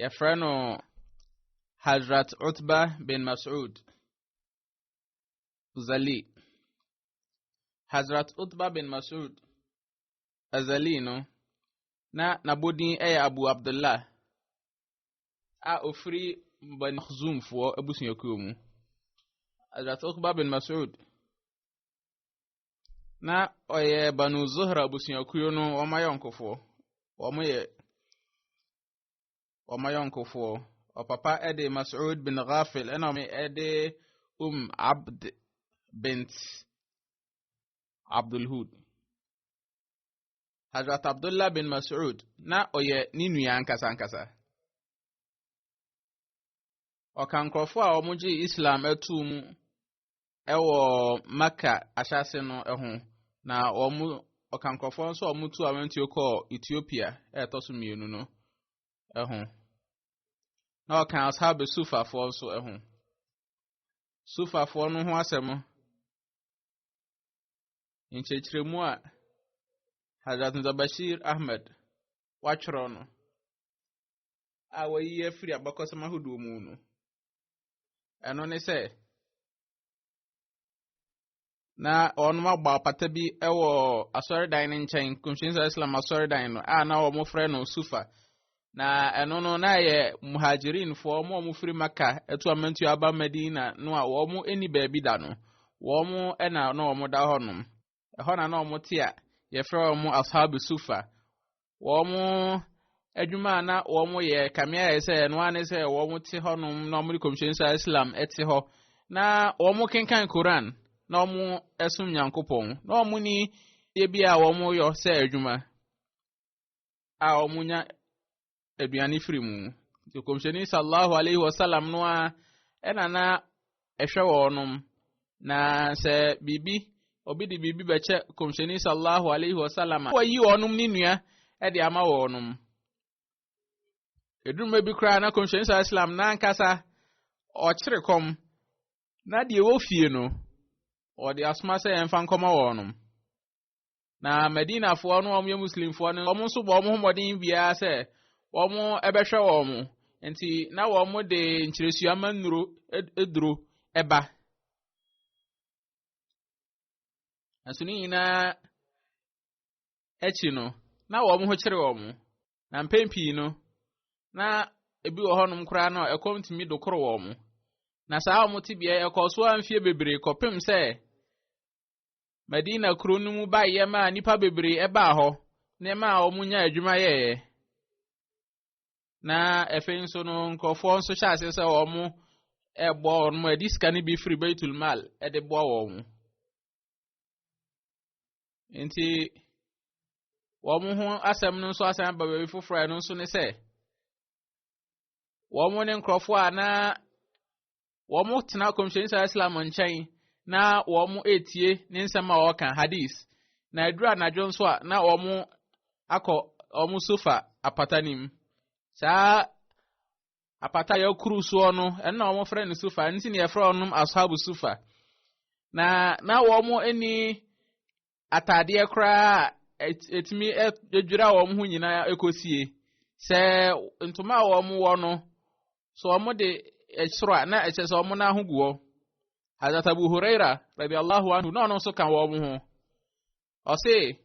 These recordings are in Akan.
yɛfrɛ no Hazrat Utba bin Mas'ud Zali. Hazrat Utba bin Mas'ud Azali no, na n'abodin yɛ Abu Abdullah a ofiri Bani Makhzumfoɔ abusuakuo mu. Hazrat Utba bin Mas'ud na ɔyɛ Banu Zuhra abusuakuo no wɔn ayɔnkofoɔ. Wɔyɛ wɔn ayɔnkofoɔ. Ɔpapa de Mas'ud bin Ghafil ɛna wɔn de Um Abd bint Abdul Hud. Hazrat Abdullah bin Mas'ud na ɔyɛ ne nua ankasa ankasa. Ɔka nkurɔfoɔ a wɔgye Islam atuu mu wɔ Mecca ahyɛase no ho, na wɔn ɔka nkurɔfoɔ nso a wɔtu awantuo kɔɔ Ethiopia a ɛtɔ so mmienu no ho. Na ɔka ashab sufafoɔ nso ho. Sufafoɔ no ho asɛm nkyerɛkyerɛmu a Hazrat Zabashir Ahmed watwerɛ no a wɔyi afiri abakɔsɛm ahodoɔ mu no. Ɛno ne sɛ, na wɔn abɔ apata bi wɔ asɔredan no nkyɛn, Kɔmhyɛnso Islam asɔredan no a na wɔfrɛ no Sufa. Na ɛno no na yɛ muhajirinfoɔ wɔn a wɔfiri Maka ɛto amantuo aba Madina no a wɔn ani baabi da no, wɔn na na wɔda hɔnom. Ɛhɔ na na wɔte a yɛfrɛ wɔn Ashabu Sufa. Wɔn adwuma a na wɔyɛ kamea yɛ sɛ ɛno ara ne sɛ wɔte hɔnom na wɔde kɔmhyɛn sa Islam te hɔ na wɔkenkan Koran na wɔsom Nyankopɔn na wɔn ni yɛ bi a wɔyɔ sɛ adwuma a wɔnya aduane firi mu nti kɔmhyɛni sallallahu alaihi wasallam no a ɛna na ɛhwɛ wɔnom na sɛ biribi obi de biribi bɛkyɛ kɔmhyɛni sallallahu alaihi wasallam a wɔyi wɔnom ne nua de ama wɔnom eduruma bi koraa na kɔmhyɛni sallallahu alaihi wasallam n'ankasa ɔkyere kɔm na deɛ ɛwɔ fie no ɔde asoma sɛ yɛmfa nkɔma wɔnom Na Madinafoɔ no wɔn yɛ Muslimfoɔ no wɔn nso bɔ wɔn ho mmɔden biara sɛ wɔn bɛhwɛ wɔn. Nti na wɔn de nkyerɛsua ma nnuro duro ba. Nanso ne nyinaa akyi no, na wɔn ho kyere wɔn. Na mpɛn pii no, na ebi wɔ hɔnom koraa no ɛkɔm tumi dokoro wɔn. Na saa wɔn tebea ɛkɔɔ so a mfeɛ bebree kɔpem sɛ Madina kuro no mu baeɛ maa nnipa bebree ɛbaa hɔ na ɛmaa wɔn nya adwuma yɛeɛ. Na afei nso no nkurɔfoɔ nso hyɛ aseɛ sɛ wɔn ɛboa wɔn mo ɛde sika no bi firi Baitul Mal ɛde boa wɔn mo. Nti wɔn ho asɛm no nso asan aba baabi foforɔ a ɛno nso ne sɛ wɔn ne nkurɔfoɔ a na wɔtena kɔmhyɛni sara islam nkyɛn na wɔn etie ne nsɛm a wɔka hadith na aduru anadwo nso a na wɔn akɔ wɔn sofa apata no mu saa apata a yɛkuru soɔ no ɛno na wɔfrɛ no sofa ɛno nti na yɛfrɛ wɔn ashabu sofa na na wɔn ani ataadeɛ koraa a ɛtumi dwira wɔn ho nyinaa ɛkɔsie. Sɛ ntoma a wɔn wɔ no, sɛ wɔn de ɛsoro a, na ɛkyɛ sɛ wɔn nan ho gu hɔ. Hazrat Abu Huraira, rabi Allahu anhu, na ɔno nso ka wɔn ho. Ɔse,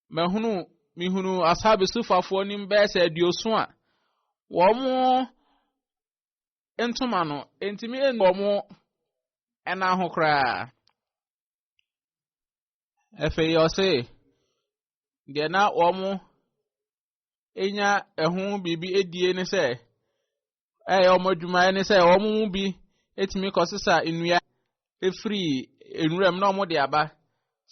mahunu, mehunu ashabi sufafoɔ nim bɛyɛ sɛ aduoso a, wɔn ntoma no, ntumi ɛnu wɔn ɛnan ho koraa. Afei ɔse, deɛ na wɔn anya ɛho biribi adie ne sɛ, ɛyɛ wɔn adwumayɛ ne sɛ wɔn mu bi atumi kɔsesa nnua firi nwuram na wɔde aba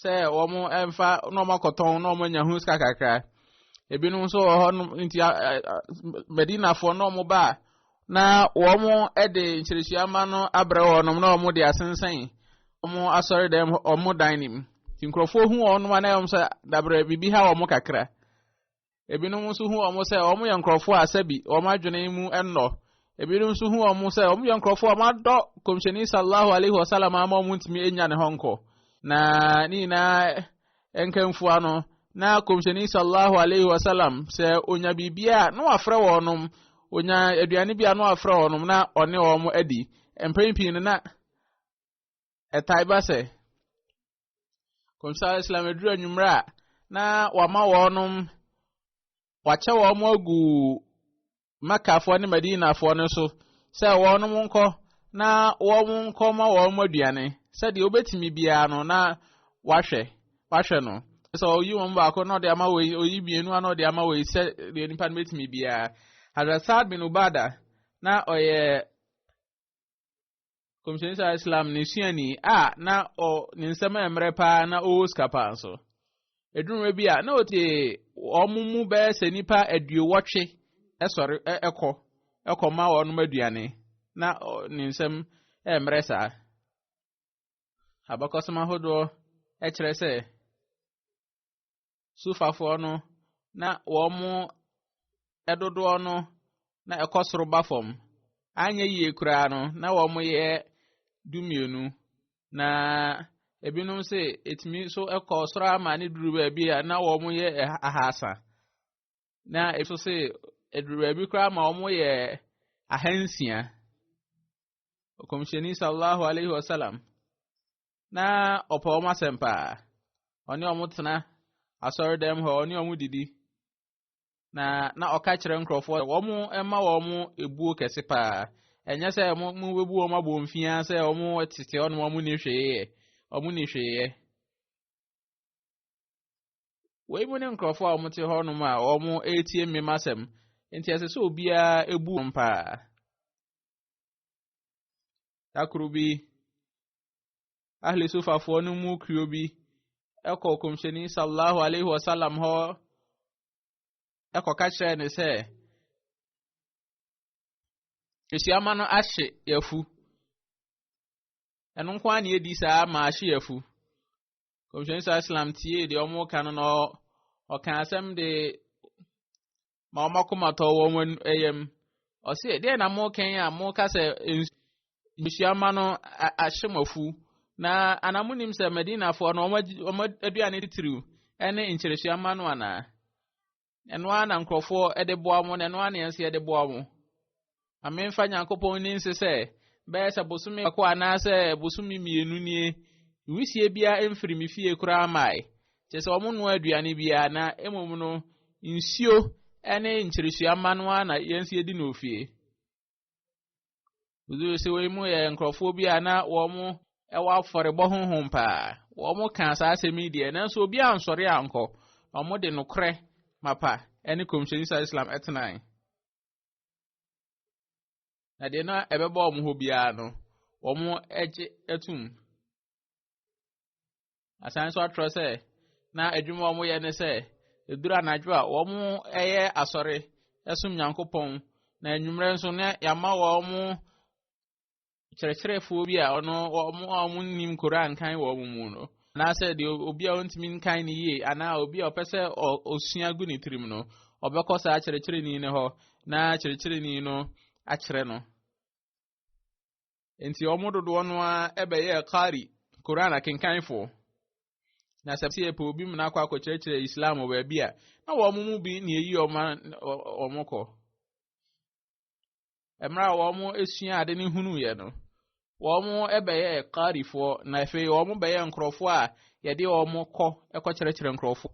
sɛ wɔn mfa na wɔn akɔtɔn na wɔn anya ho sika kakra. Ebinom nso wɔ hɔ nom nti Madinafoɔ na wɔn ba a Na wɔde nkyerɛkyerɛmu ma no abrɛ wɔn na wɔde asensɛn wɔn asɔredan hɔ wɔn dan no mu. Nti nkurɔfoɔ hu wɔn a na wɔn sɛ dabrɛ biribi ha wɔn kakra. Ebinom nso hu wɔn sɛ wɔn yɛ nkurɔfoɔ a sɛbi wɔn adwene mu nnɔ. Ebinom nso hu wɔn sɛ wɔn yɛ nkurɔfoɔ a wɔn adɔ kɔmhyɛni sallahu alaihi wasallam ama wɔn ntumi enya ne hɔ nkɔ. Na ne nyinaa nkamfua no, na Kɔmhyɛni sallallahu alaihi wasallam sɛ onya biribi a na wafrɛ wɔnom, onya aduane bi a na wafrɛ wɔnom na ɔne wɔn adi. Mpɛn pii no na ɛtae ba sɛ Kɔmhyɛni Islam aduru anwummerɛ a na wama wɔnom wakyɛ wɔn agu Makkafoɔ ne Madinafoɔ no so sɛ wɔnom nkɔ na wɔn nkɔ ma wɔn aduane sɛdeɛ wobɛtumi biara no na wahwɛ wahwɛ no sɛ ɔyi wɔn baako na ɔde ama wɔ yi ɔyi mmienu ana ɔde ama wɔ yi sɛ deɛ nipa no bɛtumi biara Hazrat Saad bin Ubada na ɔyɛ kɔmhyɛni saa islam ne suani a na ɔ ne nsɛm yɛ mmerɛ paa na ɔwɔ sika paa nso ɛduruma bi a na ɔte wɔn mu bɛyɛ sɛ nipa aduowɔtwe ɛsɔre ɛkɔ ɛkɔ ma wɔn aduane na ne nsɛm yɛ mmerɛ saa abakɔsɛm ahodoɔ ɛkyerɛ sɛ Sufafoɔ no na wɔn dodoɔ no na ɛkɔ soro ba fam. Anyɛ yie koraa no, na wɔn yɛ dumienu. Na ebinom se etumi nso kɔ soro ama ne duru baabi a na wɔn yɛ ahasa. Na ebi nso se eduru baabi koraa ma wɔn yɛ ahansia. Ɔkɔmhyɛni sallallahu alaihi wasallam na ɔpɛ wɔn asɛm paa ɔne wɔn tena asɔredan mu hɔ ɔne wɔn didi na na ɔka kyerɛ nkurɔfoɔ wɔn mma wɔn ebuo kɛse paa ɛnyɛ sɛ wɔn mu bɛbu wɔn abɔ mfia sɛ wɔn tete hɔ na wɔn ni hwee yɛ wɔn ni hwee yɛ wɔn mu ne nkurɔfoɔ a wɔte hɔ nom a wɔn retie mmem asɛm nti ɛsɛ sɛ obiara ebu wɔn paa dakoro bi. Ahli Sufafoɔ no mu kuo bi kɔ kɔmhyɛni sallallahu alaihi wasallam hɔ kɔka kyerɛɛ ne sɛ ehyiama no ahye yafu ɛno nko ara na edi saa ma ahye yafu kɔmhyɛni sallallahu alaihi wasallam tie deɛ wɔka no na ɔka asɛm de ma wɔn akoma tɔ wɔn yam. Ɔse, deɛ na mokɛn a moka sɛ nsuama no ahyɛ mo afu. Na ana monim sɛ Madinafoɔ no wɔn aduane titiriw ne nkyerɛsuama no anaa? Ɛno ara na nkurɔfoɔ de boa mo na ɛno ara na yɛn nso yɛde boa mo. Ma memfa Nyankopɔn nni nse sɛ, bɛyɛ sɛ bosome baako anaasɛ bosome mmienu nie, wisie biara mfiri me fie koraa mmae, kyerɛ sɛ wɔnnoa aduane biara, na mmom no, nsuo ne nkyeresua mma no ara na yɛn nso yɛdi no wɔ fie. Woduu sɛ wei mu yɛ nkurɔfoɔ bi a na wɔn wɔ afɔrebɔ honhom paa. Wɔn kaa saa asɛm yi deɛ, nanso obi ansɔre ankɔ. Wɔn de nokorɛ mapa ne kɔmhyɛni sa Islam tenae. Na deɛ na ɛbɛba wɔn hɔ biara no, wɔgye tom. Asan nso atwerɛ sɛ, na adwuma a wɔyɛ ne sɛ, ɛduru anadwo a, wɔyɛ asɔre som Nyankopɔn, na anwummerɛ nso na yɛama wɔn kyerɛkyerɛfoɔ bi a ɔno wɔn a wɔnnim koraa nkan wɔ wɔn mu no anaasɛ deɛ obi a ɔntumi nkan no yie anaa obi a ɔpɛ sɛ ɔsua gu ne tirim no ɔbɛkɔ saa kyerɛkyerɛni no hɔ na kyerɛkyerɛni no akyerɛ no nti wɔn dodoɔ no ara ɛbɛyɛ kari koran akenkanfoɔ na sɛ sɛ yɛpɛ obi mu no akɔ akɔkyerɛkyerɛ islam wɔ baabi a na wɔn mu bi na eyi wɔn wɔn kɔ Mmerɛ a wɔsuaa ade no hunuiɛ no, wɔbɛyɛɛ Qarifoɔ na afei wɔbɛyɛɛ nkurɔfoɔ a yɛde wɔn kɔ kɔkyerɛkyerɛ nkurɔfoɔ.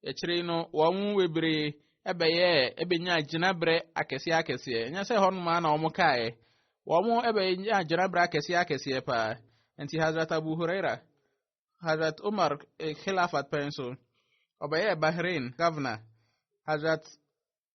Akyire yi no, wɔn mu bebree bɛyɛɛ ɛbɛnyaa gyinaberɛ akɛseɛ akɛseɛ. Ɛnyɛ sɛ hɔ nom ara na wɔn kaeɛ. Wɔn bɛnyaa gyinaberɛ akɛseɛ akɛseɛ paa. Nti Hazrat Abu Huraira, Hazrat Umar eh, Khilafat pɛn so, ɔbɛyɛɛ Bahrain governor. Hazrat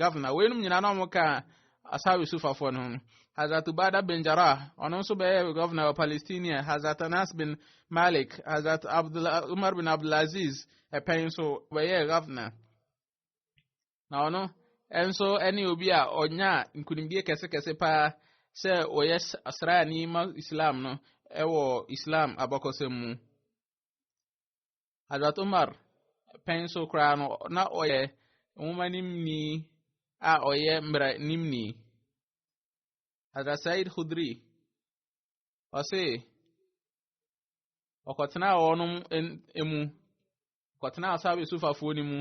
governor weinom nyinaa na wɔn ka asawi sufafoɔ no ho hazrat ubada bin jarah ɔno nso bɛyɛ governor wɔ palestinia hazrat anas bin malik hazrat umar bin abdulaziz ɛpɛn nso bɛyɛ governor na ɔno nso ne obi a ɔnya nkunimdie kɛsekɛse paa sɛ ɔyɛ asraani ma islam no ɛwɔ islam abakɔsɛm mu Hazrat Umar pɛn so koraa no, na ɔyɛ nwoma nimni a ɔyɛ mmara nimni. Hazrat Said Khudri, ɔse, ɔkɔtenaa wɔn mu, ɔkɔtenaa Asabe Sufafoɔ no mu,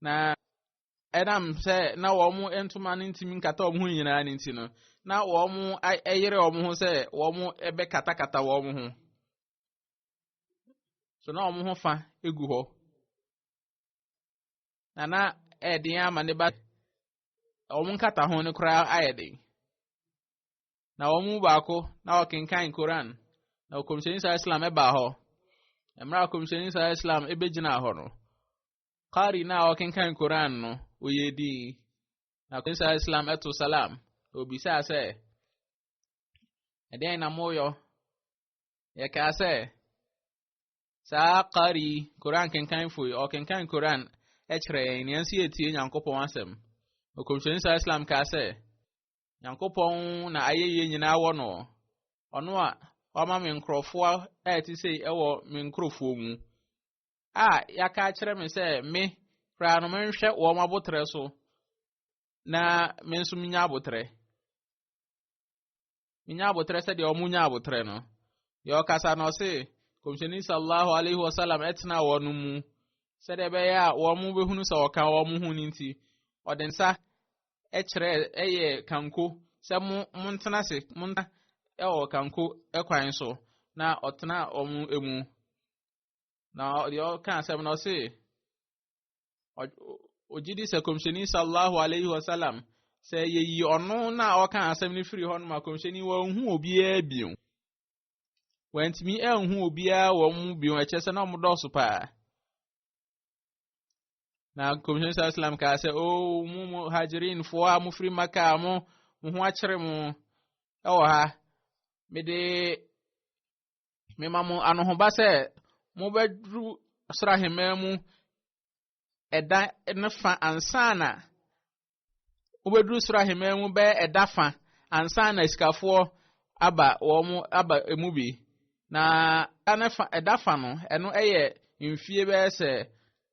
na ɛnam sɛ na wɔn ntoma no ntumi nkata wɔn ho nyinaa no nti no, na wɔn yere wɔn ho sɛ wɔn bɛkatakata wɔn ho. So na wɔn ho fa gu hɔ. Na na ɛyɛ den ama ne ba wɔn nkata ho no koraa ayɛ den. Na wɔn mu baako na ɔkenkan Koran. Na ɔkɔmhyɛni saa Islam ɛbaa hɔ. Mmerɛ a ɔkɔmhyɛni saa Islam ɛbɛgyinaa hɔ no. Kari na ɔkenkan Koran no ɔyɛ din. Na ɔkɔmhyɛni saa Islam ɛto salam. Na ɔbisaa sɛ ɛdeɛn na moyɔ yɛkaa sɛ saa kari koran kenkanfo yi ɔkenkan koran kyerɛ yɛn nea nso yɛtie nyankopɔn asɛm ɔkɔmhyɛni saa islam kaa sɛ nyankopɔn na ayɛyie nyinaa wɔ no ɔno a wama me nkurɔfoɔ a ɛte sei ɛwɔ me nkurɔfoɔ mu a yɛaka akyerɛ me sɛ me koraa no menhwɛ wɔn abotrɛ so na me nso menya abotrɛ menya abotrɛ sɛdeɛ wɔn nya abotrɛ no deɛ ɔkasa na ɔse kɔmhyɛni sallallahu alaihi wasallam ɛtena wɔn no mu sɛdeɛ ɛbɛyɛ a wɔn bɛhunu sɛ ɔka wɔn ho no nti ɔde nsa ɛkyerɛ ɛyɛ kanko sɛ mo mo ntena se mo ntena ɛwɔ kanko ɛkwan so na ɔtena wɔn mu na deɛ ɔka asɛm na ɔse ɔgye di sɛ kɔmhyɛni sallallahu alaihi wasallam sɛ yɛyi ɔno na ɔka asɛm no firi hɔ no ma kɔmhyɛni wɔnhu obiara bio wɔantumi anhu obiara wɔn mu bio ɛkyɛ sɛ na wɔn dɔɔso paa na kɔmhyɛni sallallahu alaihi wasallam kaa sɛ o oh, mu mu hajrinfoɔ a mofiri maka a mo mo ho akyere mo ɛwɔ ha mede Mema mo anohoba sɛ mobɛduru ɔsoro ahemman mu ɛda no fa ansa na mobɛduru soro ahemman mu bɛyɛ ɛda fa ansa na asikafoɔ aba wɔn aba emu bi. Na ɛda fa no, ɛno yɛ mfie bɛyɛ sɛ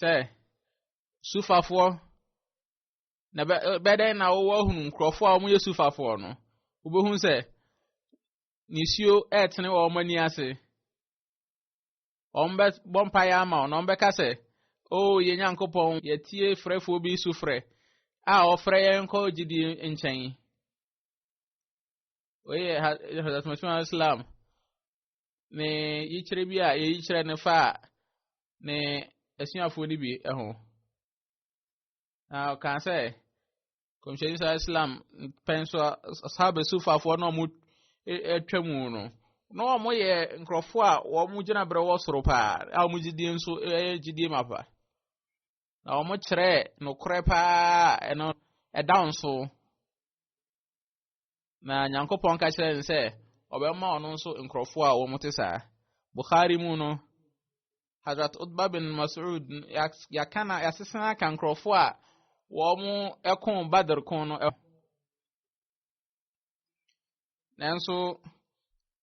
sɛ sufafoɔ na bɛdɛn na wowɔ hunu nkurɔfoɔ a wɔyɛ sufafoɔ no wobɛhu sɛ nisuo ɛretene wɔ wɔn ani ase wɔn bɛbɔ mpaeɛ ama wɔn na wɔbɛka sɛ o oh, yɛn nyankopɔn yɛtie frɛfoɔ bi so frɛ a ɔfrɛ yɛn kɔ gyidie nkyɛn wei yɛ hadasmasuma islam ne yikyerɛ bi a yɛyi kyerɛ no fa a ne asuafoɔ no bi ho. Na ɔkaa sɛ, kɔmhyɛni sa Islam pɛn so asahaba sufafoɔ na wɔn atwa mu no, na wɔn yɛ nkurɔfoɔ a wɔn gyina berɛ wɔ soro paa a wɔn gyidie nso yɛ gyidie ma pa. Na wɔn kyerɛ nokorɛ paa ɛno ɛda nso. Na Nyankopɔn ka kyerɛ no sɛ ɔbɛma ɔno nso nkurɔfoɔ a wɔn te saa. Bukhari mu no, Hazrat Utba bin Mas'ud yɛaka na yɛasesa aka nkurɔfoɔ a wɔn ko Badr ko no. Nanso,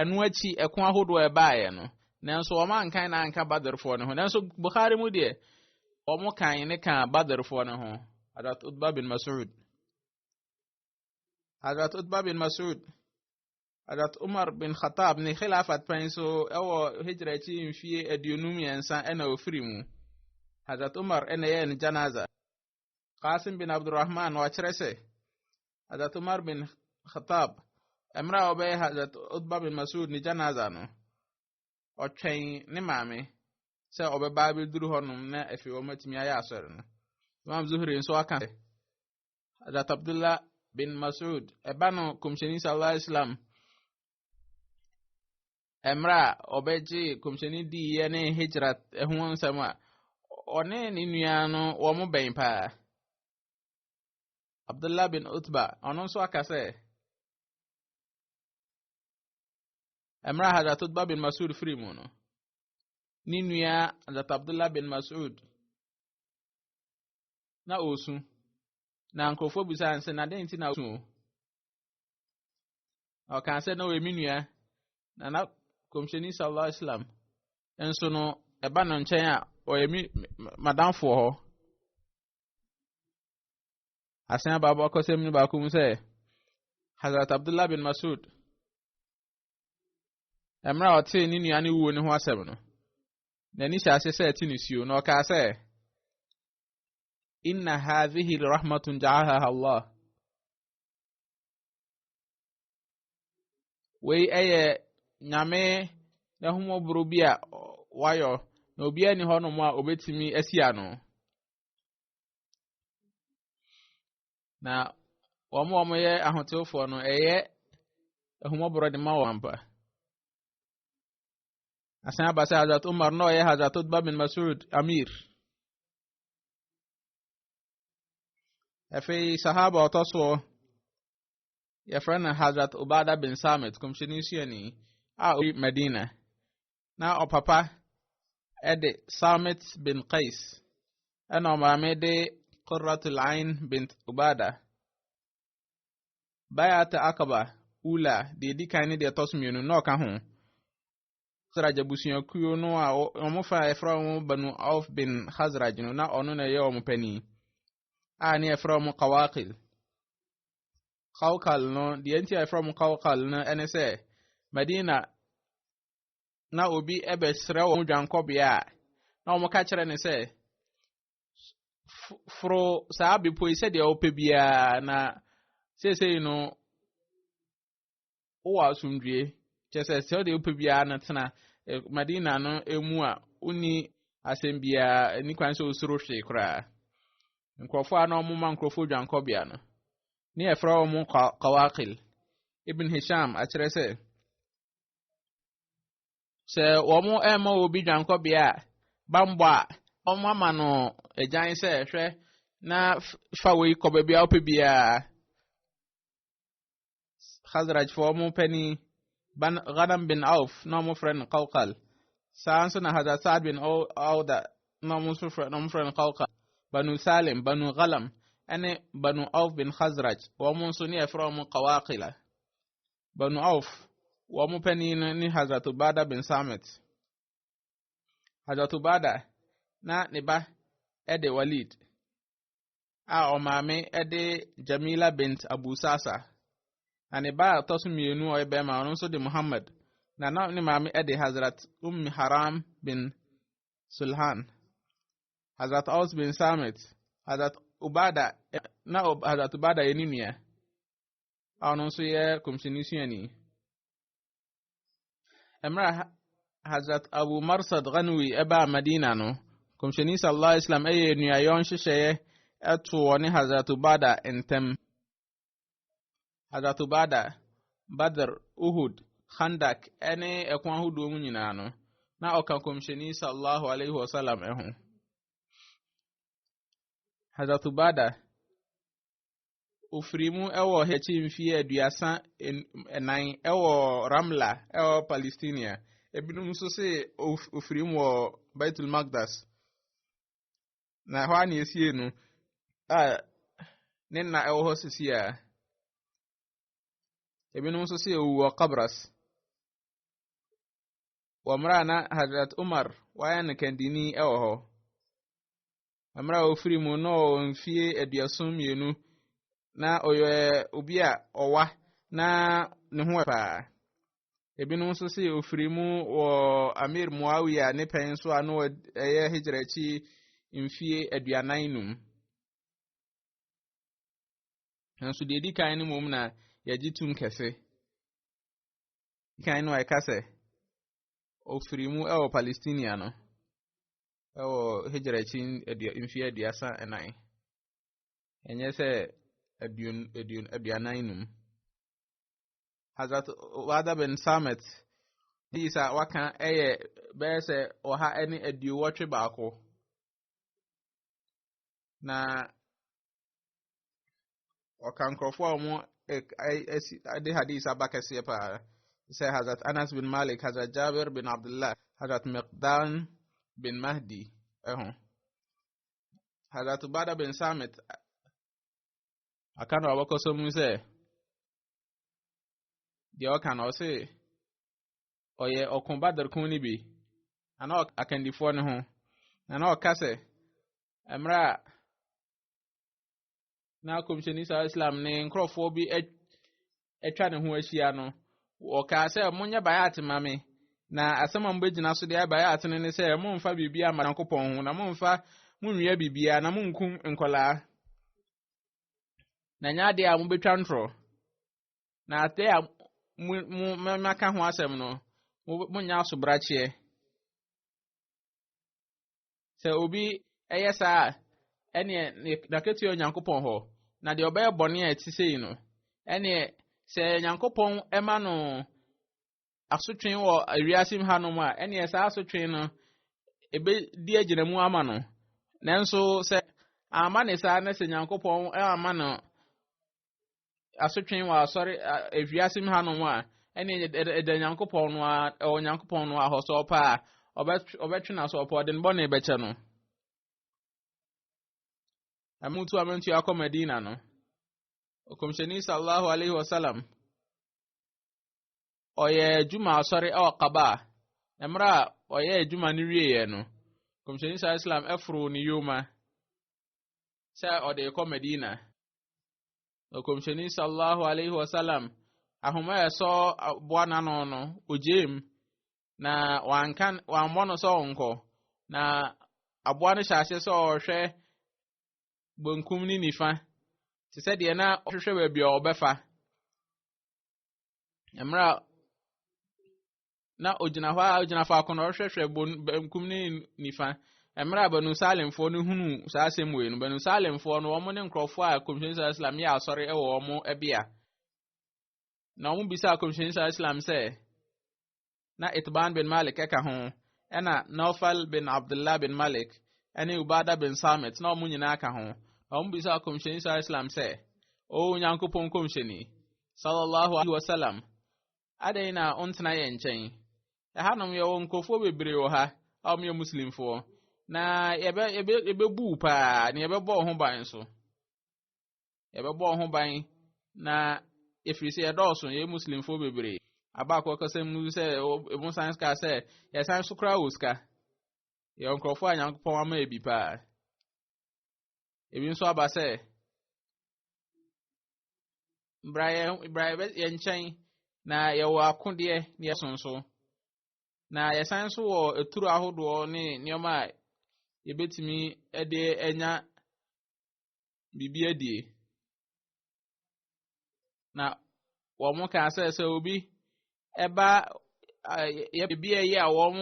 Ɛno akyi ɛko ahodoɔ a ɛbaeɛ no, nanso wɔn ankan na anka Badrfoɔ no ho. Nanso Bukhari mu deɛ, wɔn kan ne ka Badrfoɔ no ho. Hadrat Utba bin Mas'ud. Hadrat Utba bin Mas'ud. Hadrat Umar bin Khattab ne Khilafat pɛn so ɛwɔ Hijra akyi mfie aduonu mmiɛnsa ɛna ofiri mu. Hadrat Umar ɛna ɛyɛ ne janaza. Qasim bin Abdurrahman na wakyerɛ sɛ Hazrat Umar bin Khattab mmerɛ a ɔbɛyɛ Hazrat Utba bin Masud ne janaza no ɔtwɛn ne maame sɛ ɔbɛba abɛduru hɔnom na afei wɔn atumi ayɛ asɔre no Imam Zuhri nso aka sɛ Hazrat Abdullah bin Masud ɛba no kɔmhyɛni sallallahu alaihi wasallam mmerɛ a ɔbɛgye kɔmhyɛni diiɛ ne hijra ho nsɛm a ɔne ne nua no wɔn bɛn paa abdullah bin utba ɔno nso aka sɛ mmerɛ a hadrat utba bin masud firi mu no ne nua hadrat abdullah bin masud na ɔresu na nkurɔfoɔ bisa nsɛ na dɛn nti na ɔresu ɔkaa sɛ na ɔyɛ me nua na na kɔmhyɛni sallallahu alaihi wasallam nso no ɛba no nkyɛn a ɔyɛ me madamfoɔ hɔ asan aba abakɔsɛm no baako mu sɛ hazrat abdullah bin masud mmerɛ a ɔtee ne nua no wuo no ho asɛm no n'ani hyɛ ase sɛ ɛte nisuo na ɔkaa sɛ inna hadhihi rahmatun ja'alaha allah Wei yɛ nyame n'ahumɔboro bi a wayɔ na obiara ni hɔnom a obetumi asi ano. Na wɔn a wɔyɛ ahotefoɔ no, ɛyɛ ahumɔboro de ma wɔn ampa. Asan aba sɛ Hazrat Umar na ɔyɛ Hazrat Utba bin Masud Amir. afei sahaba ɔtɔ soɔ yɛfrɛ no hazrat obada bin samit kɔmhyɛni suani a ɔyi madina na ɔpapa ɛde samit bin qais ɛna ɔmaame de qurratul ain bin obada bayat akaba ula deɛ ɛdi kan ne deɛ ɛtɔ so mmienu na ɔka ho Khazraj abusuakuo no a wɔn fa a yɛfrɛ wɔn Banu Auf bin Khazraj no na ɔno na ɛyɛ wɔn panin a ne yɛfrɛ wɔn Kawakil Kawkal no deɛ nti a yɛfrɛ wɔn Kawkal no ɛne sɛ Madina na obi ɛbɛsrɛ wɔn dwankɔbea a na wɔn ka kyerɛ ne sɛ foro saa bepɔ yi sɛdeɛ ɔpɛ biara na seesei no wowɔ asomdwoe, kyerɛ sɛ sɛ wode wopɛ biara no tena Madina no mu a wonni asɛm biara, nni kwan sɛ wosoro hwee koraa. Nkurɔfoɔ a na wɔma nkurɔfoɔ dwankɔbea no, ne yɛfrɛ wɔn kawakil. Ibn Hisham akyerɛ sɛ, sɛ wɔn ɛma obi dwankɔbea a, bambɔ a, wɔn ama no agyan sɛ hwɛ na fa wei kɔ baabi a wopɛ biara. Khazrajfoɔ wɔn panin ban Ghanam bin Auf na wɔn frɛ no Kawkal saa nso na Hazrat Saad bin Awda na wɔn nso frɛ na wɔn frɛ no Kawkal Banu Salim Banu Ghalam ɛne Banu Auf bin Khazraj wɔn nso ne yɛfrɛ wɔn Kawakila Banu Auf wɔn panin no ne Hazrat Ubada bin Samit Hazrat Ubada na ne ba ɛde Walid a ɔmaame de Jamila bint Abu Sasa. Na ne ba a ɔtɔ so mmienu a ɔyɛ bɛrima ɔno nso de Muhammad. Na na ne maame de Hazrat Umm Haram bin Sulhan, Hazrat Aus bin Samit, Hazrat Ubada, na Hazrat Ubada yɛ ne nua a ɔno nso yɛ kɔmhyɛni suani. mmerɛ Hazrat Abu Marsad Ghanwi ɛbaa Madina no, Kɔmhyɛni sallallahu alaihi wasallam ɛyɛ nnuayɔ nhyehyɛeɛ ɛto wɔ ne Hazrat Ubada ntɛm. Hazrat Ubada, Badr, Uhud, Khandak ɛne ɛko ahodoɔ mu nyinaa no, na ɔka Kɔmhyɛni sallallahu alaihi wasallam ɛho. Hazrat Ubada Ɔfirii mu wɔ Hɛkyi mfeɛ aduasa nan wɔ Ramla wɔ Palestina. Ebinom nso se ɔfirii mu wɔ Baitul Magdas. Na ɛhɔ a na ɛsie no a ne nna ɛwɔ hɔ sisi a. Ebinom nso se ɔwu wɔ Kabras. Wɔ mmerɛ a na Hazrat Umar wayɛ no kandini wɔ hɔ. Mmerɛ a ɔfiri mu na ɔwɔ mfie aduason mmienu na ɔyɛ obi a ɔwa na ne ho paa ebinom nso se ɔfiri mu wɔ amir muawia ne pɛn nso a na ɛyɛ hijra akyi mfie aduanan num nanso deɛ ɛdi kan no mmom na yɛgye tum kɛse kan no a ɛka sɛ ɔfiri mu ɛwɔ palestinia no wɔ Hijra akyi mfeɛ aduasa ɛnan ɛnyɛ sɛ aduon aduon aduanan num Hazrat Wada bin Samet ne isa waka ɛyɛ bɛyɛ sɛ ɔha ɛne aduowɔtwe baako na ɔka nkurɔfoɔ a wɔn ɛsi ɛde hadith aba kɛseɛ paa sɛ hazrat anas bin malik hazrat jabir bin abdullah hazrat miqdan bin mahdi ɛho hazrat ubada bin samit aka no ɔbɛkɔ so mu sɛ deɛ ɔka no ɔse ɔyɛ ɔko badr ko no bi ana akandifoɔ no ho ana ɔka sɛ mmerɛ a na kɔmhyɛni sa islam ne nkurɔfoɔ bi atwa ne ho ahyia no wɔkaa sɛ monyɛ bayat ma me na asɛm a mobɛgyina so deɛ bayat no ne sɛ momfa biribiaa mma nyankopɔn ho na momfa monwia biribiaa na monkum nkɔlaa na nyɛ adeɛ a mobɛtwa ntorɔ na adeɛ a maka ho asɛm no monyɛ asobrakyeɛ Sɛ obi yɛ saa a, ɛneɛ n'akatua Onyankopɔn hɔ, na deɛ ɔbɛyɛ bɔne a ɛte sei no, ɛneɛ sɛ Onyankopɔn ma no asotwe wɔ wiase mu hanom a, ɛneɛ saa asotwe no ɛbɛdi agyina mu ama no. Nanso sɛ ama ne saa na sɛ Onyankopɔn ama no asotwe wɔ asɔre ewiase mu hanom a ɛne ɛda nyankopɔn no a ɛwɔ nyankopɔn no ahɔ sɛ ɔpɛ a ɔbɛtwe no asɛ ɔpɛ ɔde ne bɔne bɛkyɛ no ɛmutu amantu akɔ madina no ɔkɔmhyɛni sallallahu alaihi wasallam ɔyɛ adwuma asɔre ɛwɔ kaba a mmerɛ a ɔyɛ adwuma no wieɛ no kɔmhyɛni sallallahu alaihi wasallam ɛforo ne yoma sɛ ɔde rekɔ Medina. Ɔkɔmhyɛni sallallahu alaihi wasallam ahoma a ɛsɔ boa n'ano no ogyee mu na wanka wammɔ no sɛ ɔnkɔ na aboa no hyɛ ase sɛ ɔrehwɛ benkum ne nifa te sɛ deɛ na ɔhwehwɛ baabi a ɔbɛfa mmerɛ a na ogyina hɔ a ogyina faako na ɔhwɛhwɛ benkum ne nifa mmerɛ a banu salemfoɔ no hunu saa asɛm wei no banu salemfoɔ no wɔn ne nkurɔfoɔ a kɔmhyɛni saa islam yɛ asɔre wɔ wɔn bea na wɔn bisa kɔmhyɛni saa islam sɛ na itban bin malik ɛka ho ɛna naufal bin abdullah bin malik ɛne ubada bin samit na wɔn nyinaa ka ho na wɔn bisa kɔmhyɛni saa islam sɛ o nyankopɔn kɔmhyɛni sallallahu alaihi wasallam Adɛn na wontena yɛn nkyɛn? Ɛhanom yɛwɔ nkurɔfoɔ bebree wɔ ha a wɔyɛ Muslimfoɔ, na yɛbɛ yɛbɛ yɛbɛbu wo paa na yɛbɛbɔ wo ho ban nso. Yɛbɛbɔ wo ho ban na ɛfiri sɛ yɛdɔɔso yɛyɛ Muslimfoɔ bebree. Abaako kasa mu sɛ ɛmu san sika sɛ yɛsan so koraa wɔ sika. Yɛwɔ nkurɔfoɔ a Nyankopɔn ama yɛ bi paa. Ebi nso aba sɛ bra yɛn bra yɛn nkyɛn na yɛwɔ akodeɛ na yɛsonso na yɛsan nso wɔ aturo ahodoɔ ne nneɛma a yɛbɛtumi de anya biribi adie na wɔn kaa sɛ sɛ obi ɛba yɛ biribi a ɛyɛ a wɔn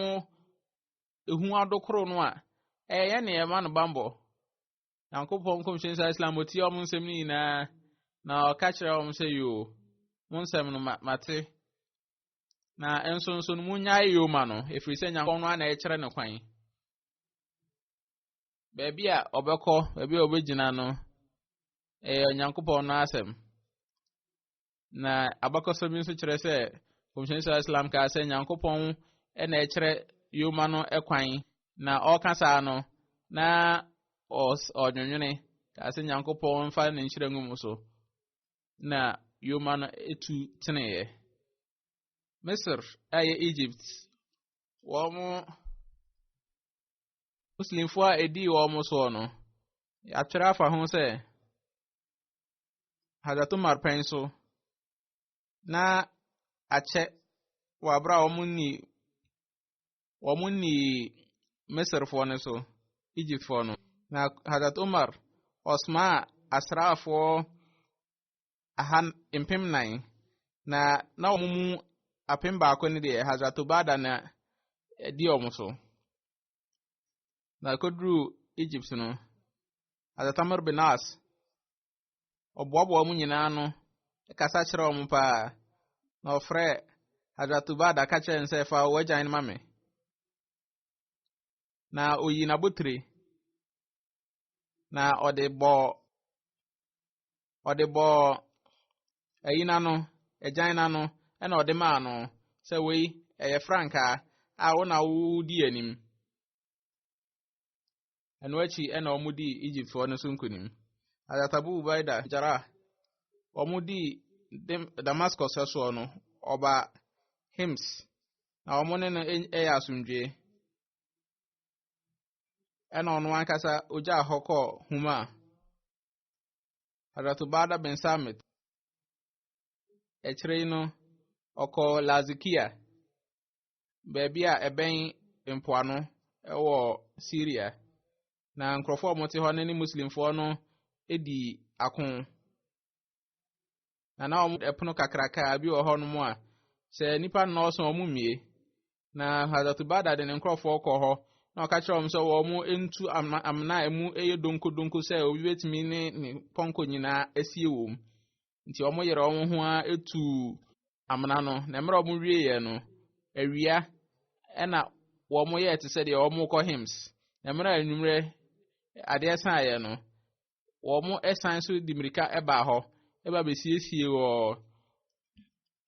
ehu adokoro no a ɛyɛ ne ɛma no bambɔ nyankopɔn nkɔmhyɛni sa islam ɔtie wɔn nsɛm no nyinaa na ɔka kyerɛ wɔn sɛ yoo mo nsɛm no mate na nso nso no monnyae yoo ma no ɛfiri sɛ nyankopɔn no ana ɛkyerɛ no kwan baabi a ɔbɛkɔ baabi a ɔbɛgyina no ɛyɛ onyankopɔn no asɛm Na abakɔsɛ bi nso kyerɛ sɛ Kɔmhyɛni Sala Islam kaa sɛ Nyankopɔn na ɛkyerɛ yoma no kwan na ɔreka saa no na ɔnwonwene kaa sɛ Nyankopɔn mfa ne nhyira ngu mu so na yoma no etu teneeɛ. Misr a ɛyɛ Egypt wɔn Muslimfoɔ a ɛdii wɔn soɔ no yɛatwerɛ afa ho sɛ Hazrat Umar pɛn so na akyɛ wɔ abere a wɔn ni wɔn ni Misirfoɔ no so Egyptfoɔ no na Hazrat Umar ɔsomaa asraafoɔ aha mpem nan na na wɔn mu apem baako no deɛ Hazrat Obada na ɛdi wɔn so. Na ɛkɔduruu Egypt no, Adatamar bin As, ɔboaboa wɔn nyinaa ano kasa kyerɛ wɔn paa, na ɔfrɛ Hadratubad aka kyerɛ no sɛ fa w'agyan no ma me. Na oyi n'abotire, na ɔde bɔɔ ɔde bɔɔ ayi n'ano agyan n'ano ɛna ɔde maa no sɛ wei ɛyɛ frankaa a wo na wodi anim ɛno akyi ɛna wɔn dii egyptfoɔ no so nkunim adatabu ubaida jara wɔn dii damascus ɛsoɔ no ɔba hims na wɔn ne no ɛyɛ asomdwe ɛna ɔno ankasa ogya hɔ kɔɔ huma Hazrat Ubada bin Samit. Akyire yi no, ɔkɔɔ Lazikia, baabi a ɛbɛn mpoano wɔ Syria. Na nkurɔfoɔ a wɔte hɔ no ne Muslimfoɔ no di ako. Na na wɔn ɛpono kakraka bi wɔ hɔnom a, sɛ nnipa nnɔɔso a wɔmmie. Na Hadatubada de ne nkurɔfoɔ kɔɔ hɔ, na ɔka kyerɛ wɔn sɛ wɔn ntu amena a emu yɛ donkudonku sɛ obi betumi ne ne pɔnkɔ nyinaa asie wɔ mu. Nti wɔn yere wɔn ho ara etu amena no, na mmerɛ wɔn wieeɛ no, awia ɛna wɔn yɛɛ te sɛ deɛ wɔn kɔ hymns. Na mmerɛ a anwummerɛ adeɛ saeɛ no, wɔsan so de mmirika baa hɔ ba bɛsiesie wɔ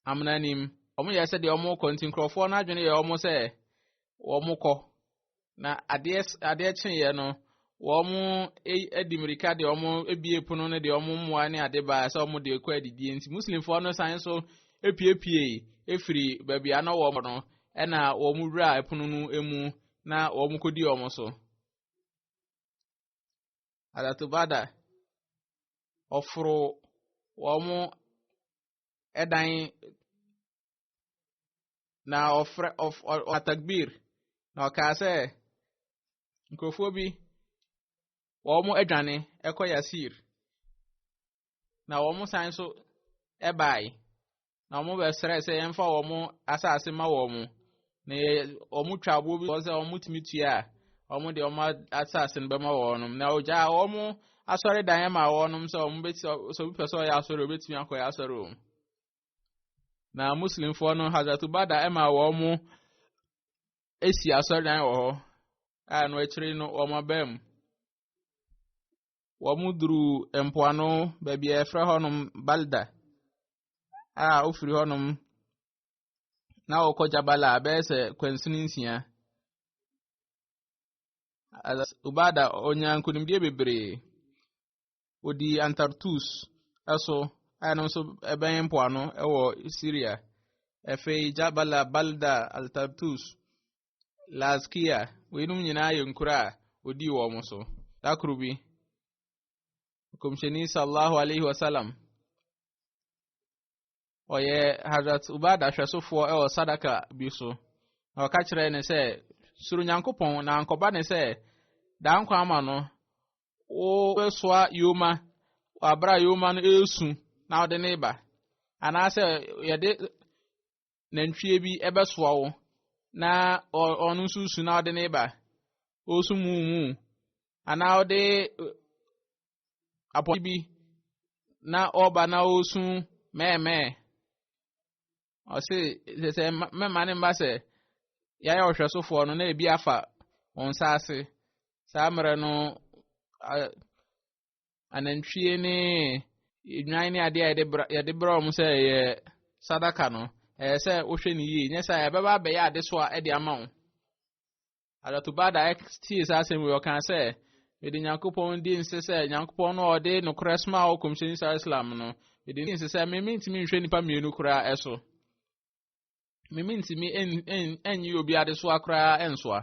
amena no mu. Wɔyɛ sɛ deɛ wɔrekɔ nti nkurɔfoɔ no adwene yɛ wɔn sɛ wɔrekɔ. Na adeɛ adeɛ kyeeɛ no, wɔn e, de mmirika de wɔn abie pono no de wɔn mmoa ne ade baa sɛ wɔn de kɔ adidie nti muslimfoɔ no san so epiepie efiri baabi a na wɔn no ɛna wɔn wura pono no mu na wɔn kɔdi wɔn so. Adatubada, ɔforo wɔn dan na ɔfrɛ ɔf ɔ atagbir na ɔkaa sɛ nkurɔfoɔ bi wɔn adwane kɔ Yasir na wɔn san so bae. na wɔn bɛsrɛ sɛ yɛmfa wɔn asase ma wɔn na yɛ wɔn twa aboɔ bi wɔn sɛ wɔn tumi tua a wɔn de wɔn asase no bɛma wɔn na ɔgya wɔn asɔre dan yɛ ma wɔn sɛ wɔn bɛ sɛ obi pɛ sɛ ɔyɛ asɔre obetumi akɔ yɛ asɔre wɔn na muslimfoɔ no hazatubada ɛma wɔn esi asɔre dan wɔ hɔ a no akyire no wɔn abɛn mu. wɔduruu mpoano baabi a wɔfrɛ hɔnom Balda a wofiri hɔnom na wɔkɔ Jabala bɛyɛ sɛ kwansini nsia. Ubada ɔnya nkonimdie bebree. Odi Antartus so a ɛno nso ɛbɛn mpoano wɔ Syria. Afei Jabala, Balda, Altartus Laskia, weinom nyinaa yɛ nkuro a ɔdii wɔn so. Da koro bi, Kɔmhyɛni sallallahu alaihi wasallam, ɔyɛ Hazrat Ubada hwɛsofoɔ wɔ sadaka bi so. Na ɔka kyerɛ ne sɛ, soro Nyankopɔn na nkɔba ne sɛ, daa nkwa ama no, wobɛsoa yoma, wabra yoma no ɛresu na ɔde ne ba. Anaasɛ yɛde nantwie bi bɛsoa wo na ɔno nso su na ɔde ne ba ɔresu mu mu anaa ɔde apɔ bi na ɔreba na ɔresu mɛɛmɛɛ ɔse sɛ sɛ mɛma ne mma sɛ yɛayɛ ɔhwɛsofoɔ no na ebi afa wɔn nsa ase saa mmerɛ no anantwie ne nnwan ne adeɛ a yɛde bra yɛde bra wɔn sɛ ɛyɛ sadaka no ɛyɛ sɛ wohwɛ no yie nyɛ sɛ ɛbɛba abɛyɛ adesoa de ama wo adatobada tie saa asɛm yi ɔkaa sɛ mede nyankopɔn di nse sɛ nyankopɔn no ɔde nokorɛ soma a ɔkɔmhyɛni saa islam no mede di nse sɛ me mentumi nhwɛ nnipa mmienu koraa ɛso me mentumi ɛnyi obi adesoa koraa ɛnsoa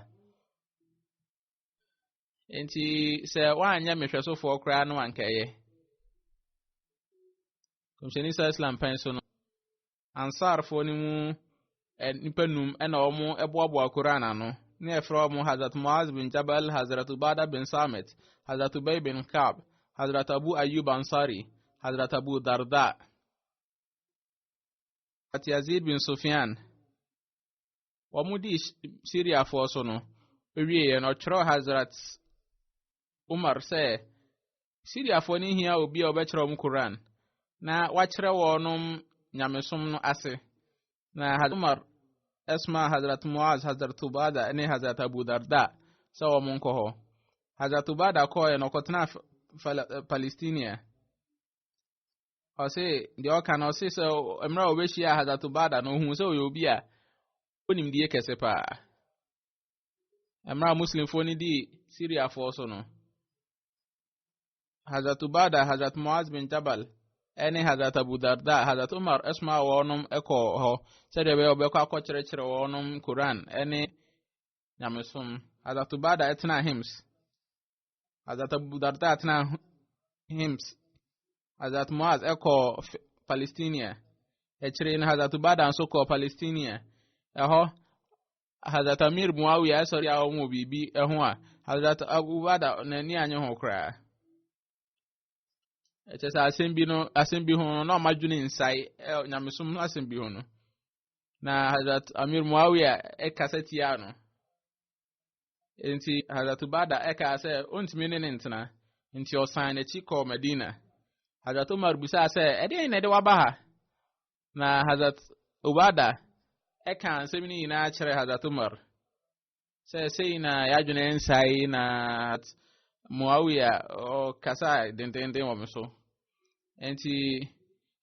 nti sɛ woanyɛ mehwɛsofoɔ koraa no anka ɛyɛ kɔmhyɛni sa islam pɛn so no ansarfoɔ no mu nnipa num ɛna wɔn boaboa koraa n'ano ne ɛfrɛ wɔn hazrat muaz bin jabal hazrat ubada bin samit hazrat ubay bin kab hazrat abu ayub ansari hazrat abu darda hazrat yazid bin sufyan wɔdii Siriafoɔ so no, wieeɛ no ɔtwerɛɛ Hazrat Umar sɛ Siriafoɔ no hia obi a ɔbɛkyerɛ wɔn Koran na wakyerɛ wɔnom nyamesom no ase. Na Hazrat Umar ɛsoma Hazrat Muaz, Hazrat Ubada ne Hazrat Abu Darda sɛ wɔn nkɔ hɔ. Hazrat Ubada kɔɔɛ na ɔkɔtena Palestina. ɔse deɛ ɔka no ɔse sɛ mmerɛ a ɔbɛhyia hazato bada no ɔhu sɛ ɔyɛ obi a ɔnimdie kɛse paa mmerɛ a muslimfoɔ no dii syriafoɔ so no hazato bada hazat moaz bin jabal ɛne hazat abu darda hazat umar ɛsoma wɔnom ɛkɔ hɔ sɛdeɛ ɛbɛyɛ ɔbɛkɔ akɔkyerɛkyerɛ wɔnom koran ɛne nyamesom hazato bada ɛtena hims as that Abu Darda atena Hims, as that Muaz ɛkɔ Palestinia, akyire no Hazrat Ubada nso kɔ Palestinia, ɛhɔ Hazrat Amir Muawiya ɛsɔre a wɔn wɔ biribi ɛho a Hazrat Abu Ubada n'ani anye ho koraa. Ɛkyɛ sɛ asɛm bi no asɛm bi ho no na ɔma dwene nsae ɛ nyamesom no asɛm bi ho no. Na Hazrat Amir Muawiya ɛkasa tia no. Enti Hazrat Ubada ɛkaa sɛ ɔntumi ne ne ntena, nti ɔsan n'akyi kɔɔ Madina. Hazrat Umar bisaa sɛ, ɛdeɛn na ɛde waba ha? Na Hazrat Ubada ɛkaa nsɛm no nyinaa kyerɛ Hazrat Umar. Sɛ sei na yɛadwene nsae na Muawiya ɔkasa dendenden wɔ me so. Enti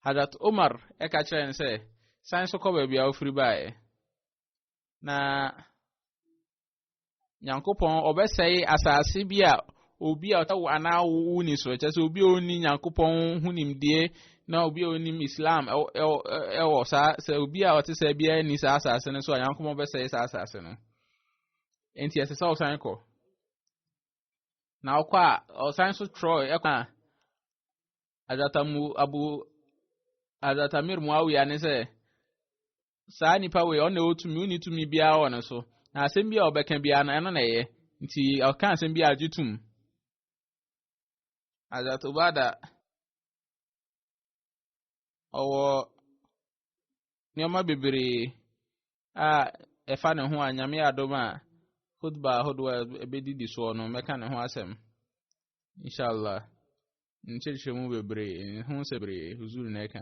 Hazrat Umar ɛka kyerɛ no sɛ, san so kɔ baabi a wofiri baeɛ. Na Nyankopɔn ɔbɛsɛe asase bi a obi a ɔtawo anaa wo ni so kyɛ sɛ obi a ɔni Nyankopɔn ho nimdeɛ na obi a ɔnim Islam ɛwɔ saa sɛ obi a ɔte sɛ biara ni saa asase no so a Nyankopɔn bɛsɛe saa asase no nti ɛsɛ sɛ ɔsan kɔ na ɔkɔ a ɔsan so trɔ ɛkɔ a adatamu abu adatamir muawiya ne sɛ saa nipa wei ɔno na ɛwɔ tumi wonni tumi biara wɔ ne so na asɛm bi a ɔbɛka biara no ɛno na ɛyɛ nti ɔka asɛm bi a agye tum azatobada ɔwɔ nneɛma bebree a ɛfa ne ho a nyame adom a khutba ahodoɔ a ɛbɛdidi soɔ no mɛka ne ho asɛm inshallah nkyerɛkyerɛ mu bebree ne ho sɛ bebree huzuru na ɛka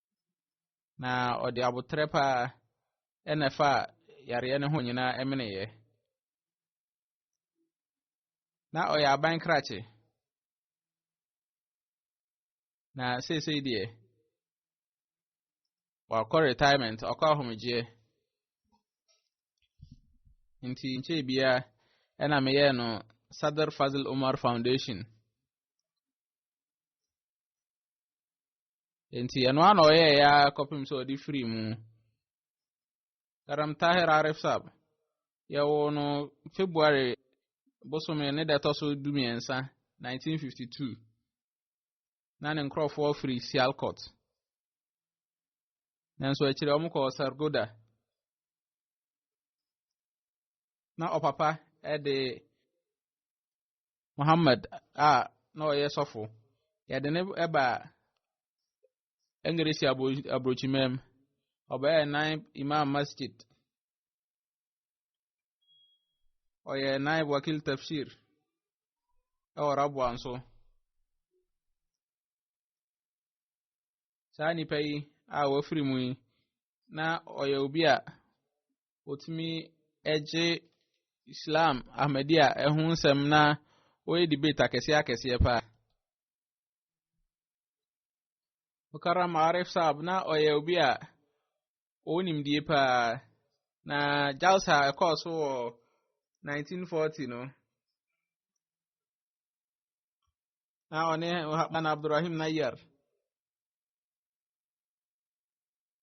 na ɔde aboterɛ pa ara na ɛfaa yareɛ no ho nyinaa meneeɛ. Na ɔyɛ aban krakye. Na seesei deɛ, wakɔ retirement, ɔkɔ ahomegyeɛ. Nti nkyɛe biara ɛna meyɛɛ no Sadr Fazil Umar Foundation. Enti ɛno ara na ɔyɛɛ ya kɔpem sɛ ɔde firi mu. Karam Tahir Arif Sab, yɛwo no February bosome ne da ɛtɔ so du mmiɛnsa 1952 na ne nkurɔfoɔ firi Sialkot. Nanso akyire wɔn kɔɔ Sargoda. Na ɔpapa de Muhammad a na ɔyɛ sɔfo. Yɛde no baa Engiresi aburokyimaa mu. Ɔbɛyɛɛ nan Imam Masjid. Ɔyɛɛ nan Wakil Tafsir wɔ Rabwa nso. Saa nipa yi a wafiri mu yi, na ɔyɛ obi a wɔtumi gye Islam Ahmadiyya ɛho nsɛm na wɔyɛ debate akɛseɛ akɛseɛ paa. Mukarram Arif Saab na ɔyɛ obi a ɔwɔ nimdie paa na Jalsa ɛkɔɔ so wɔ 1940 no na ɔne Maulana Abdurrahim Nayyar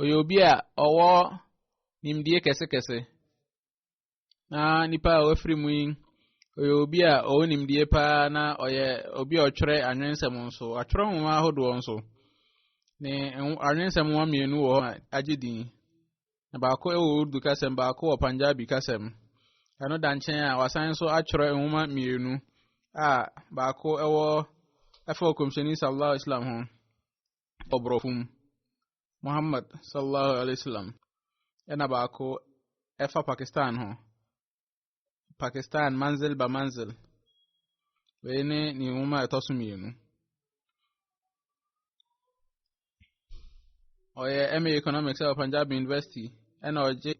ɔyɛ obi a ɔwɔ nimdie kɛsekɛse na nipa a wafiri mu yi ɔyɛ obi a ɔwɔ nimdie paa na ɔyɛ obi a ɔtwerɛ anwensɛm nso atwerɛ nwoma ahodoɔ nso ne anwensɛm nwoma mmienu wɔ hɔ a agye din na baako wɔ urdu kasɛm baako wɔ punjabi kasɛm ɛno da nkyɛn a wasan nso atwerɛ nwoma mmienu a baako wɔ ɛfa ɔkɔmhyɛni sallallahu islam ho ɔborɔfo mu. Muhammad sallallahu alaihi wasallam ɛna baako ɛfa Pakistan ho. Pakistan manzil ba manzil. Wei ne ne nwoma a ɛtɔ so mmienu. Ɔyɛ MA Economics ɛwɔ Punjab University ɛna ɔgye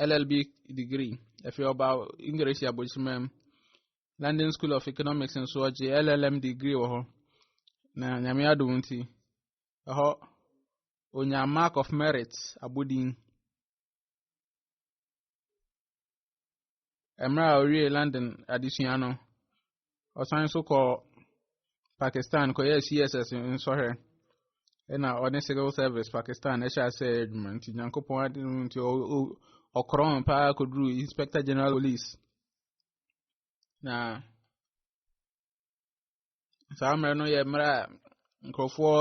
LLB degree ɛfiri ɔba English abɔdwesima mu. London School of Economics nso ɔgye LLM degree wɔ hɔ na nyame adom nti ɛhɔ onya mark of merit abodin mmerɛ a ɔwie London adesua no ɔsan nso kɔ Pakistan kɔyɛ CSS nsɔhwɛ ɛna ɔne civil service Pakistan ɛhyɛ asɛ adwuma nti nyankopɔn adom nti ɔkorɔn paa kɔduru inspector general police Na saa mmerɛ no yɛ mmerɛ a nkurɔfoɔ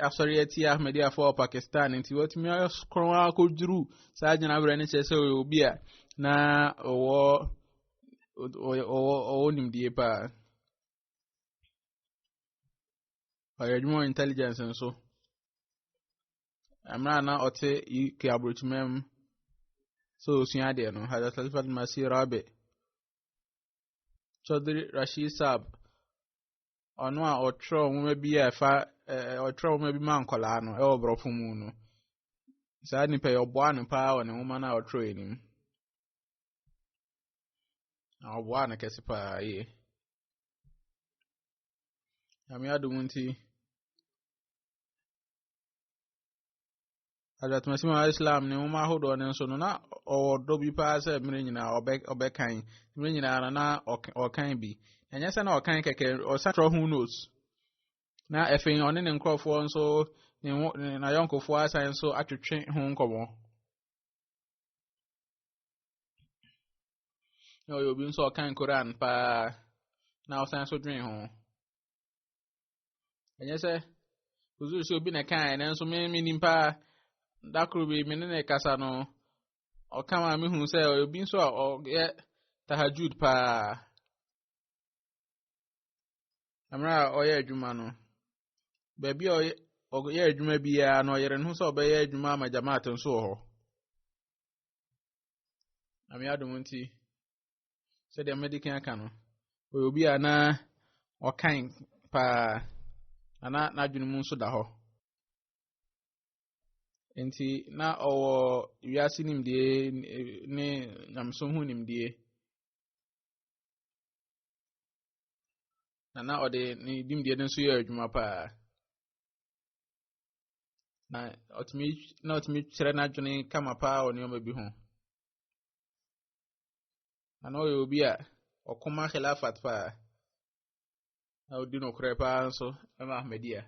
asɔre atia Ahmadiyyafoɔ wɔ Pakistan nti wɔatumi akorɔn akɔduru saa gyinaberɛ no kyerɛ sɛ ɔyɛ obi a na ɔwɔ ɔwɔ ɔwɔ nimdie paa ɔyɛ adwuma wɔ intelligence nso mmerɛ a na ɔte UK aburokyima mu sɛ ɔsua adeɛ no hada salifat masi rabe Chaudhry Rashid Saab ɔno a ɔtwerɛ nwoma bi a ɛfa ɔtwerɛ nwoma bi ma nkɔlaa no ɛwɔ borɔfo mu no saa nipa yi ɔboa no paa wɔ ne nwoma no a ɔtwerɛ yi nim na ɔboa no kɛse paa yie nyame adom nti adatmasɛm a islam ne nwoma ahodoɔ no nso no na ɔwɔ dɔ bi paa sɛ mmerɛ nyinaa ɔbɛkan mmerɛ nyinaa no na ɔkan bi ɛnyɛ sɛ na ɔkan kɛkɛ ɔsan trɔ ho nose na afei ɔne ne nkurɔfoɔ nso ne ho n'ayɔnkofoɔ asan nso atwetwe ho nkɔmmɔ na ɔyɛ obi nso ɔkan koran paa na ɔsan nso dwen ho ɛnyɛ sɛ osu sɛ obi na ɛkae nanso me me nim paa da koro bi me ne ne kasa no ɔka ma me hu sɛ obi nso a ɔyɛ tahajud paa mmerɛ a ɔyɛ adwuma no baabi a ɔyɛ adwuma biara no ɔyere ne ho sɛ ɔbɛyɛ adwuma ama jamaat nso wɔ hɔ ame adom nti sɛdeɛ mede kan aka no ɔyɛ obi a na ɔkan paa ana n'adwene mu nso da hɔ nti na ɔwɔ wiase nimdeɛ ne nyamesom ho nimdeɛ na na ɔde ne nimdeɛ no nso yɛ adwuma paa na ɔtumi na ɔtumi kyerɛ n'adwene kama paa wɔ nneɛma bi ho Na na ɔyɛ obi a ɔko ma Khilafat paa. Na ɔdi nokorɛ paa nso ma Ahmadiyya.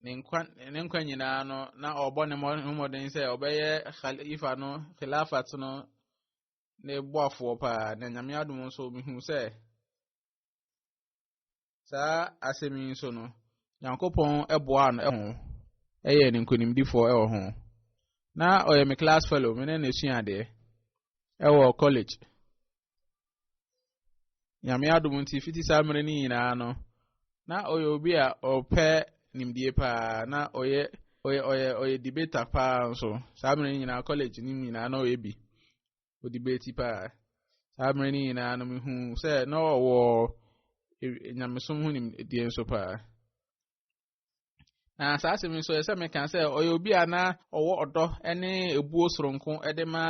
Ne nkwa ne nkwa nyinaa no na ɔbɔ ne mmɔden sɛ ɔbɛyɛ Khalifa no Khilafat no ne boafoɔ paa. Na Nyame adom nso mehu sɛ saa asɛm yi nso no, Nyankopɔn boaa no ho yɛ ne nkonimdifoɔ wɔ ho. Na ɔyɛ me class fellow, me ne no sua adeɛ wɔ college. Nyame adom nti fiti saa mmerɛ no nyinaa no, na ɔyɛ obi a ɔpɛ nimdie paa na ɔyɛ ɔyɛ ɔyɛ ɔyɛ debater paa nso saa mmerɛ no nyinaa college no nyinaa na ɔyɛ bi. ɔde bɛti paa saa mmerɛ no nyinaa no mehu sɛ na ɔwɔ nyamesom ho nimdeɛ nso paa na saa asɛm nso ɛsɛ meka sɛ ɔyɛ obi a na ɔwɔ ɔdɔ ne ebuo soronko de ma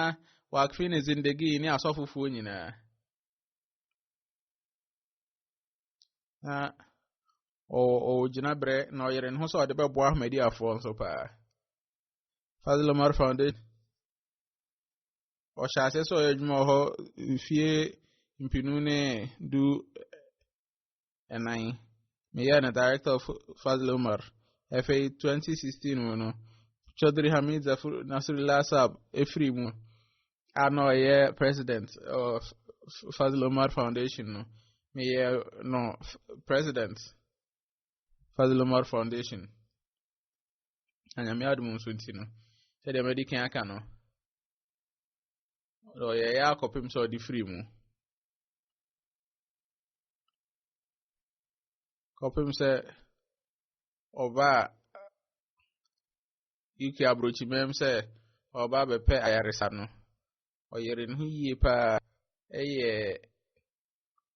wakfe ne zindagi ne asɔfofoɔ nyinaa na ɔwɔ gyinaberɛ na ɔyere ne ho sɛ ɔde bɛboa ahmadiafoɔ nso paa Fazil Omar Foundation ɔhyɛ aseɛ sɛ ɔyɛ adwuma wɔ hɔ mfie mpenu ne du ɛnan meyɛ no director of fazl umar afei 2016 mu no chaudhry hamid zafur nasrullah sab ɛfiri mu a na ɔyɛ president of fazl umar foundation no meyɛ no president fazl umar foundation na nyame adom nso nti no sɛdeɛ madi kan aka no ɔyɛyɛ akɔpem sɛ ɔde firi mu kɔpem sɛ ɔba a uk aburokyimam sɛ ɔba bɛpɛ ayaresa no ɔyere ne ho yie paa ɛyɛ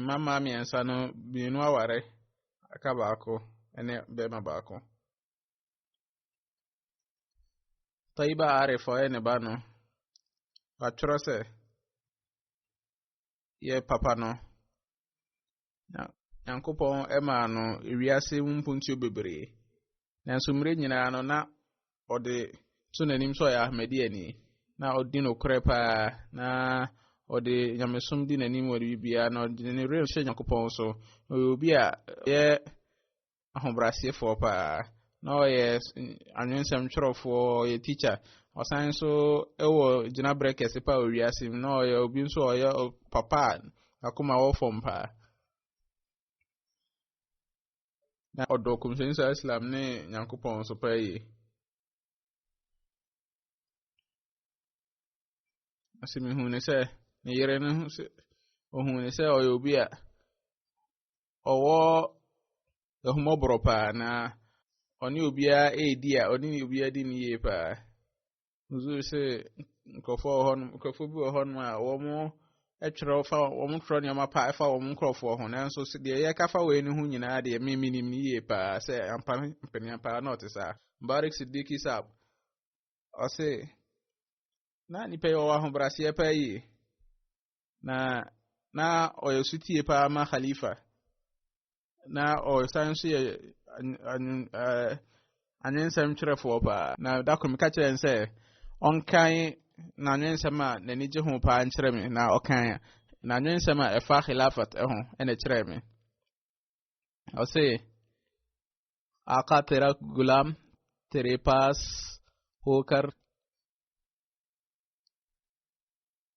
mmammaa mmiɛnsa no mmienu aware aka baako ne barima baako. Taiba Arif ɔyɛ ne ba no, watwerɛ sɛ yɛ papa no. Nyankopɔn maa no wiase mu mpuntuo bebree. Nanso mmerɛ nyinaa no na ɔde to n'anim sɛ ɔyɛ ahmadiani na ɔdi nokorɛ paa na ɔde nyamesom di n'anim wɔ biribiara na ɔde ne werɛ hyɛ nyankopɔn so na ɔyɛ obi a ɔyɛ ahobrɛasefoɔ paa na ɔyɛ anwensɛm twerɛfoɔ ɔyɛ teacher ɔsan nso wɔ gyinaberɛ kɛse paa wɔ wiase mu na ɔyɛ obi nso ɔyɛ papa a akoma wɔ fam paa Na ɔdɔ kɔmhyɛni saa Islam ne Nyankopɔn nso paa yie. Ase mehu ne sɛ ne yere no ho sɛ ohun ne sɛ ɔyɛ obi a ɔwɔ ahumɔborɔ paa na ɔne obiara redi a ɔne obiara di ne yie paa. nso sɛ nkurɔfoɔ wɔ hɔnom nkurɔfoɔ bi wɔ hɔnom a wɔn twerɛ fa wɔn twerɛ nneɛma pa fa wɔn nkurɔfoɔ ho nanso deɛ yɛka fa wei no ho nyinaa deɛ me menim no yie paa sɛ ampa mpanin paa na ɔte saa barik sidiki sab ɔse na nipa yi ɔwɔ ahobraseɛ paa yie na na ɔyɛ sotie paa ma khalifa na ɔsan nso yɛ anwensɛm twerɛfoɔ paa na da koro meka kyerɛ no sɛ ɔnkan n'anwensɛm a n'ani gye ho paa nkyerɛ me na ɔkan n'anwensɛm a ɛfa khilafat ho ɛna kyerɛ me ɔse akatera gulam terepas hokar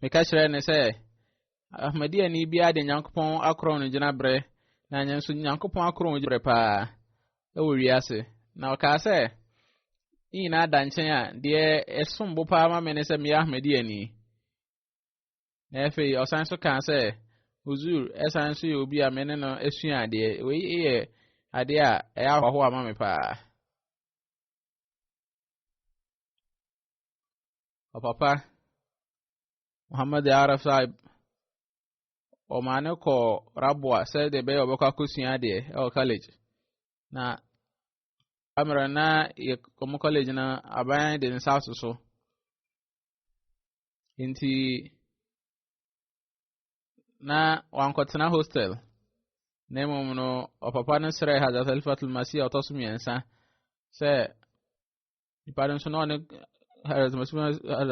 Meka kyerɛɛ no sɛ, Ahmadiani biara de Nyankopɔn akorɔn no gyinabrɛ, na ɛnyɛ nso Nyankopɔn akorɔn gyinabrɛ paa wɔ wiase. Na ɔkaa sɛ, ne nyinaa da nkyɛn a, deɛ ɛsom bo paa ma me ne sɛ meyɛ Ahmadiani. Na afei ɔsan so kaa sɛ, Huzur ɛsan so yɛ obi a me ne no asua adeɛ. Wei yɛ adeɛ a ɛyɛ ahoahoa ma me paa. ɔpapa Muhammad Arab Saib ɔmaa no kɔɔ Raboa sɛ deɛ ɛbɛyɛ ɔbɛkɔ akɔsua adeɛ ɛwɔ college na amera na yɛ wɔn college no aban de nsa aso so nti na wankɔtena hostel na mmom no ɔpapa no srɛ Hazrat Khalifatul Masih a ɔtɔ so mmiɛnsa sɛ nipa no nso na ɔne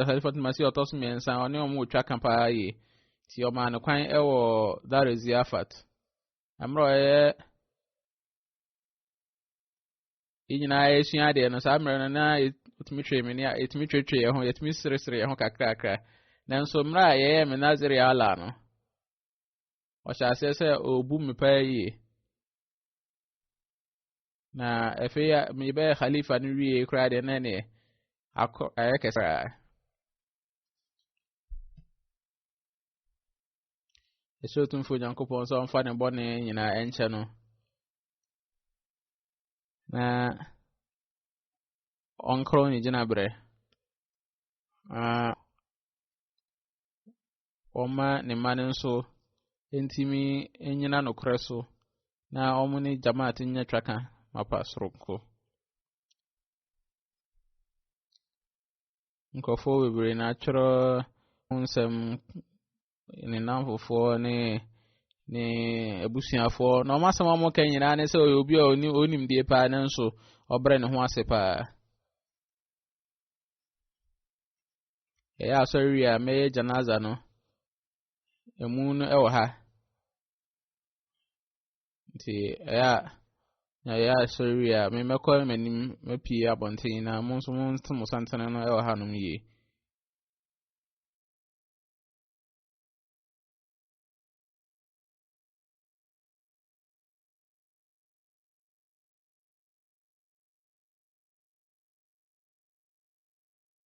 halifat masi ɔtɔ so mmiɛnsa ɔne wɔn retwa ka paa yie nti ɔmaa no kwan wɔ dare ziafat mmerɛ ɔyɛ yɛn nyinaa yɛsua adeɛ no saa mmerɛ no na yɛtumi twere me ne yɛtumi tweretwere yɛn ho yɛtumi seresere yɛn ho kakrakra nanso mmerɛ a yɛyɛ me nazere ala no ɔhyɛ aseɛ sɛ ɔbu me paa yie Na afei a mebɛyɛ khalifa no wie koraa deɛ na neɛ akɔ ayɛ kɛse koraa. Ɛsɛ otumfo Onyankopɔn sɛ ɔmfa ne bɔne nyinaa ɛnkyɛ no. Na ɔnkorɔ ne gyinaberɛ. Na wɔma ne mma no nso ntumi nnyina nokorɛ so na wɔn ne jamaat nyɛ twaka mapa soronko. Nkurɔfoɔ bebree na atwerɛ ho nsɛm ne nnamfofoɔ ne ne abusuafoɔ na wɔn asɛm a wɔka nyinaa ne sɛ ɔyɛ obi a ɔnim deɛ paa nanso ɔbrɛ ne ho ase paa. Yɛyɛ asɔre wie a, mɛyɛ janaza no. Emu no wɔ ha. Nti ɛyɛ a na yɛyɛ asɔre wie a, mɛkɔ m'anim mapue abɔnten na mo nso mo nso mo santene no wɔ hanom yie.